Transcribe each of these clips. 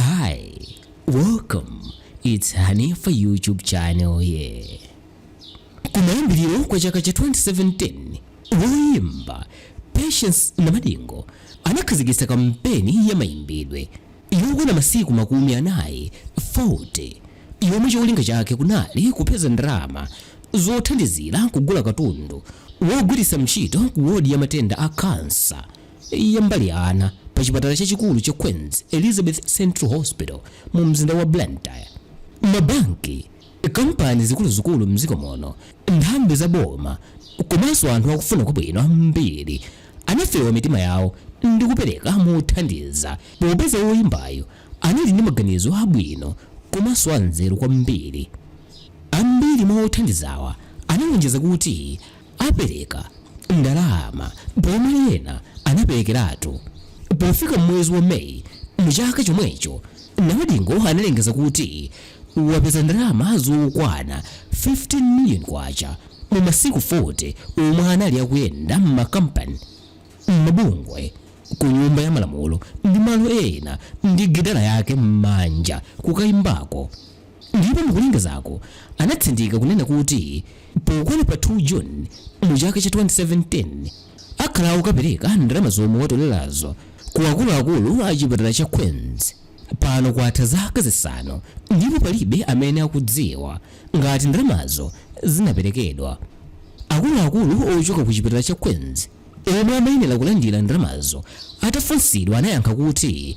Hi, welcome. It's Hanifa YouTube channel here. Kumayambiriro kwa chaka cha 2017, woyimba Patience Namadingo anakhazikitsa kampeni ya mayimbidwe yokwana masiku makumi anayi 40 yomwe cholinga chake kunali kupeza ndalama zothandizira kugula katundu wogwiritsa ntchito ku wodi ya matenda a kansa ya mbali ya ana pa chipatala chachikulu cha Queens Elizabeth Central Hospital mu mzinda wa Blantyre. Mabanki, kampani zikuluzikulu m'dziko muno, nthambi za boma komanso anthu akufuna kwabwino ambiri anafewa mitima yawo ndi kupereka mothandiza popeza woyimbayu anali ndi maganizo abwino komanso anzeru kwambiri. Ambiri mwa othandizawa analonjeza kuti apereka ndalama pomwe ena anaperekeratu. Pofika m'mwezi wa May mu chaka chomwecho, Namadingo analengeza kuti wapeza ndalama zokwana K15 million mu masiku 40 omwe anali akuyenda m'makampani, m'mabungwe, ku nyumba ya malamulo ndi malo ena ndi gitala yake m'manja kukayimbako. ndipo mukulengezako anatsindika kunena kuti pokwana pa 2 June mu chaka cha 2017 akhala akukapereka ndalama zomwe watolerazo ku akuluakulu a chipatala cha Queens. Pano kwatha zaka zisanu ndipo palibe amene akudziwa ngati ndalamazo zinaperekedwa. Akuluakulu ochoka ku chipatala cha Queens omwe amayenera kulandira ndalamazo atafunsidwa anayankha kuti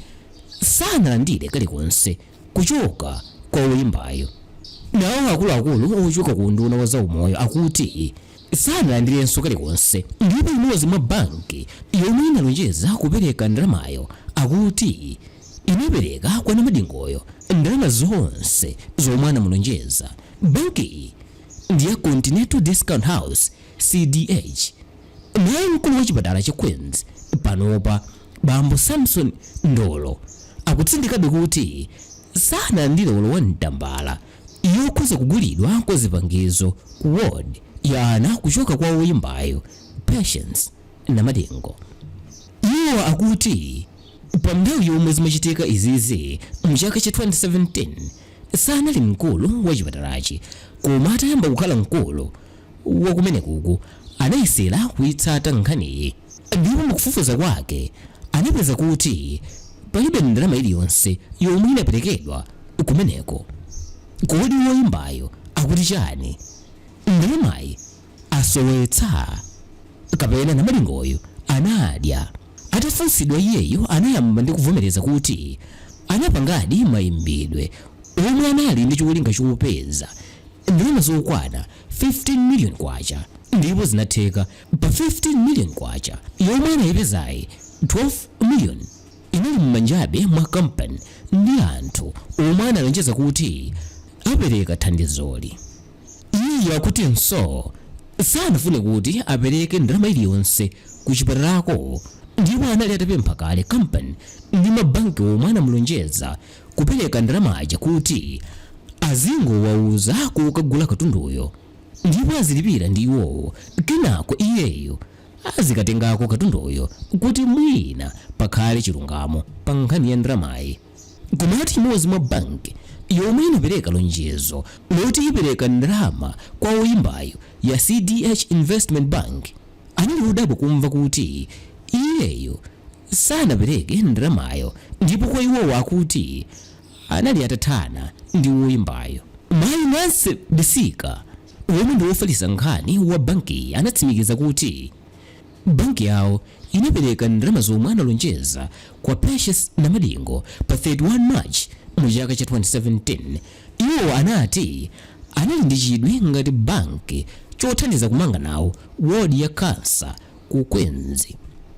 sanalandire kalikonse. kuchoka kwa woyimbayu. Nawo akuluakulu ochoka ku unduna wa zaumoyo akuti sanalandirenso kalikonse ndipo imodzi mwa banki yomwe inalonjeza kupereka ndalamayo akuti inapereka kwa Namadingoyo ndalama zonse zomwe anamulonjeza. Bankiyi ndi ya Continental Discount House, CDH. Naye mkulu wa chipatala cha Queens panopa Bambo Samson Mndolo akutsindikabe kuti sanalandire olo 1 tambala yokhuza kugulidwa kwa zipangizo ku ward ya ana kuchoka kwa woyimbayu Patience Namadingo. Iwo akuti pa mnthawi yomwe zimachitika izizi mchaka cha 2017 sanali mkulu wa chipatalachi koma atayamba kukhala mkulu, wa kumenekuku anayesera kuitsata nkhaniyi ndipo mu kufufuza kwake anapeza kuti palibe ndalama iliyonse yomwe inaperekedwa kumeneko. Kodi woimbayo akuti chani? Ndalamayi asowetsa? Kapena Namadingoyo anadya? Atafunsidwa iyeyo anayamba ndi kuvomereza kuti anapangadi maimbidwe omwe anali ndi cholinga chopeza ndalama zokwana K15 million kwacha ndipo zinatheka pa K15 million kwacha yomwe anayipezayi, K12 million inali m'manjabe mwa kampani ndi anthu omwe analonjeza kuti apereka thandizoli. Iyeyu akutinso sanafune kuti apereke ndalama iliyonse ku chipatalako ndipo anali atapempha kale kampani ndi mabanki omwe anamulonjeza kupereka ndalama ja kuti azingowauza kokagula katunduyo ndipo azilipira ndi iwowo kenako iyeyo azikatengako katunduyo kuti mwina pakhale chilungamo pa nkhani ya ndalamayi. Komatu imodzi mwa banki yomwe inapereka lonjezo loti ipereka ndalama kwa woyimbayo ya CDH Investment Bank anali odabwa kumva kuti iyeyo sanapereke ndalamayo ndipo kwa iwowo akuti anali atathana ndi woyimbayo. Mayi Nancy Bisika omwe ndi wofalitsa nkhani wa bankiyi anatsimikiza kuti banki yawo inapereka ndalama zomwe analonjeza kwa Patience Namadingo pa 31 March mu chaka cha 2017. Iwo anati anali ndi chidwi ngati banki chothandiza kumanga nawo wodi ya cancer ku Queens,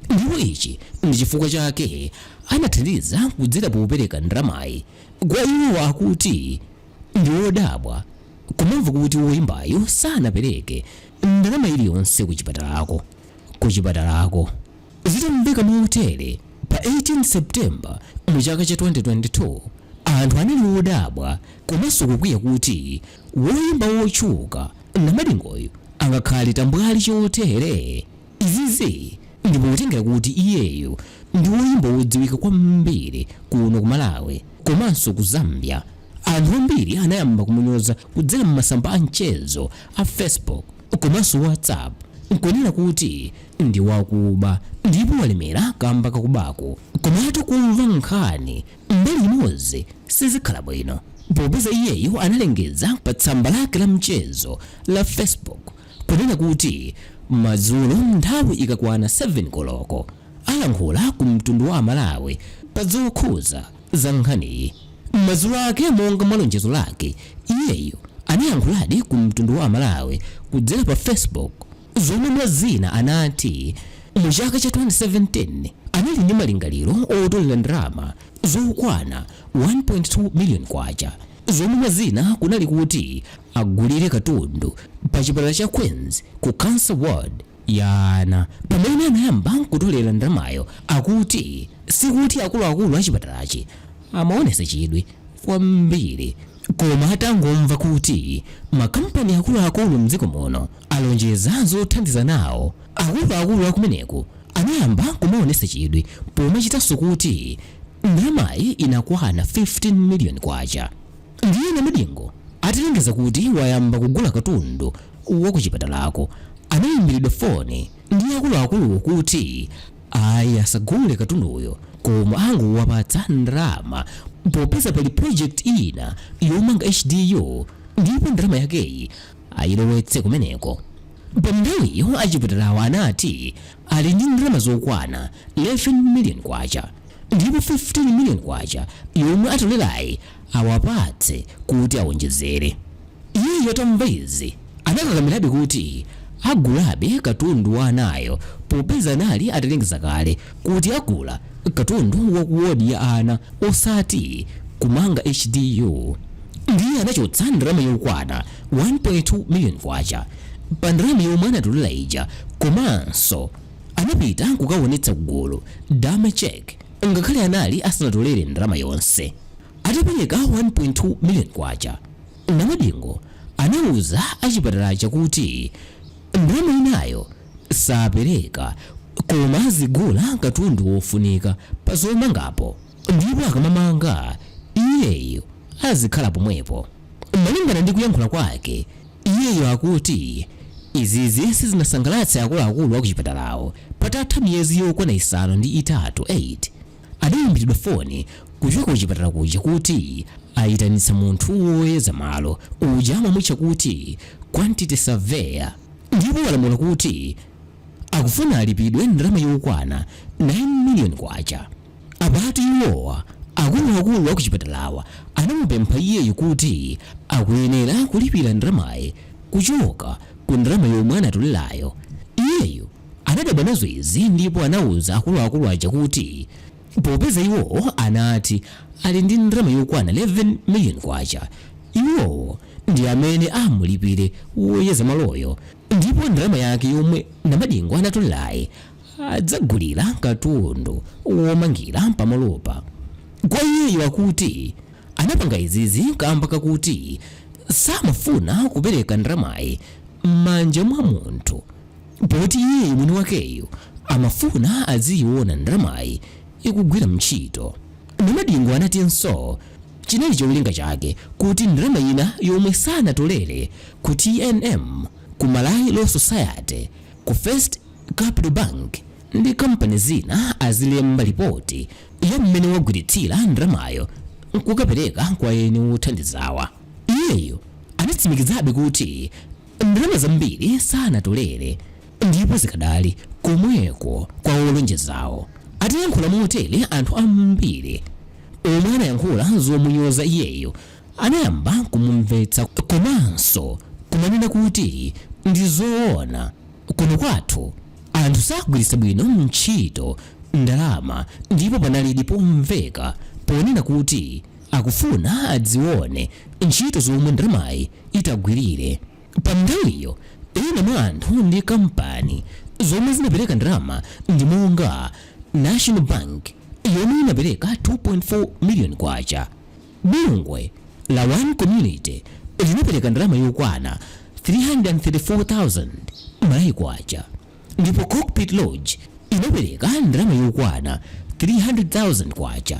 ndipo ichi ndi chifukwa chake anathandiza kudzera popereka ndalamayi kwa iwo akuti ndi odabwa kumamva kuti woyimbayo sanapereke ndalama iliyonse ku chipatalako ku chipatalako Zitamveka motere, pa 18 September mu chaka cha 2022, anthu anali odabwa komanso kukwiya kuti woimba wotchuka Namadingoyo angakhale tambwali chotere? Izizi ndi potengera kuti iyeyo ndi woimba wodziwika kwambiri kuno ku Malawi komanso ku Zambia. Anthu ambiri anayamba kumunyoza kudzera m'masamba a mchezo a Facebook komanso WhatsApp nkunena kuti ndi wakuba ndipo walemera kamba kakubako. Komatu kumva nkhani Mbali imodzi sizikhala bwino popeza iyeyo analengeza pa tsamba lake la mchezo la Facebook kunena kuti madzulo nthawi ikakwana 7 koloko alankhula ku mtundu wa aMalawi pa zokhuza za nkhaniyi. Madzulo ake monga mwa lonjezo lake, iyeyo anayankhuladi ku mtundu wa aMalawi kudzera pa Facebook. zomwe mwazina anati mu chaka cha 2017 anali ndi malingaliro otolera ndalama zokwana K1.2 million zomwe mwazina kunali kuti agulire katundu pa chipatala cha Queens ku Cancer Ward ya ana. Pamene anayamba kutolera ndalamayo akuti sikuti akuluakulu a chipatalachi amaonesa chidwi kwambiri koma atangomva kuti makampani akuluakulu mdziko muno Alonjeza zothandiza nawo. Akuluakulu akumeneko anayamba kumaonesa chidwi pomachitanso kuti ndalamayi inakwana K15 million. Ndiye Namadingo atalengeza kuti wayamba kugula katundu wa kuchipatalako, anaimbiridwa foni ndi akuluakuluwo kuti ayi asagule katunduyo koma angowapatsa ndalama popeza pali project ina yomanga HDU ndipo ndalama yakeyi ayilowetse kumeneko. Pa nthawiyo achipatalawo anati ali ndi ndalama zokwana K11 million ndipo K15 million yomwe atolerayi awapatse kuti awonjezere. Iyeyo atamva izi anakakamirabe kuti agulabe katundu wa anayo popeza anali atalengeza kale kuti agula katundu wa ku wodi ya ana osati kumanga hdu ndiye anachotsa ndalama yokwana 1.2 million kwacha pa ndalama yomwe anatolera ija komanso anapita kukawonetsa ku gulu dummy check ngakhale anali asanatolere ndalama yonse atapereka 1.2 million kwacha namadingo anauza achipatalacho kuti ndalama inayo sapereka koma azigula katundu wofunika pa zomangapo ndipo akamamanga iyeyo azikhala pomwepo. Malingana ndi kuyankhula kwake, iyeyo akuti izizi sizinasangalatse akuluakulu akuchipatalawo patatha miyezi yokwana isanu ndi itatu 8 adaimbiridwa foni kuchoka kuchipatala kuja kuti ayitanitsa munthu woyeza malo uja amamutcha kuti quantity surveyor. ndipo walamula kuti akufuna alipidwe ndalama yokwana K9 million. Apatu iwowa, akuluakulu a kuchipatalawa, anamupempha iyeyo kuti akuyenera kulipira ndalamayi kuchoka ku ndalama yomwe anatolerayo. Iyeyo anadabwa nazo izi ndipo anauza akuluakulu aja kuti Popeza iwo anati ali ndi ndalama yokwana K11 miliyoni, iwowo ndi amene amulipire woyeza maloyo ndipo ndalama yake yomwe Namadingo anatolerayi adzagulira katundu womangira pamalopa. Kwa iyeyo akuti anapanga izizi kamba kakuti samafuna kupereka ndalamayi m'manja mwa munthu. poti iyeyo mwini wakeyo amafuna adziyiona ndalamayi ikugwira ntchito. Namadingo anatinso chinali cholinga chake kuti ndalama ina yomwe sanatolere ku TNM, ku Malawi Law Society, ku First Capital Bank ndi kampani zina azilemba lipoti ya m'mene wagwiritsira ndalamayo nkukapereka kwa eni wothandizawa. Iyeyo anatsimikizabe kuti Ndalama zambiri sanatolere ndipo zikadali komweko kwa olonjezawo. Atayankhula motere anthu ambiri omwe anayankhula zomunyoza iyeyo anayamba kumumvetsa komanso kumanena kuti ndi zoona kuno kwathu anthu sagwiritsa bwino ntchito ndalama ndipo panalidi pomveka ponena kuti akufuna adzione ntchito zomwe ndalamayi itagwirire. Pa nthawiyo ena mwa anthu ndi kampani zomwe zinapereka ndalama ndi monga National Bank yomwe inapereka K2.4 million, bungwe la One Community linapereka ndalama yokwana 334,000 Malawi kwacha ndipo Cockpit Lodge inapereka ndalama yokwana K300,000.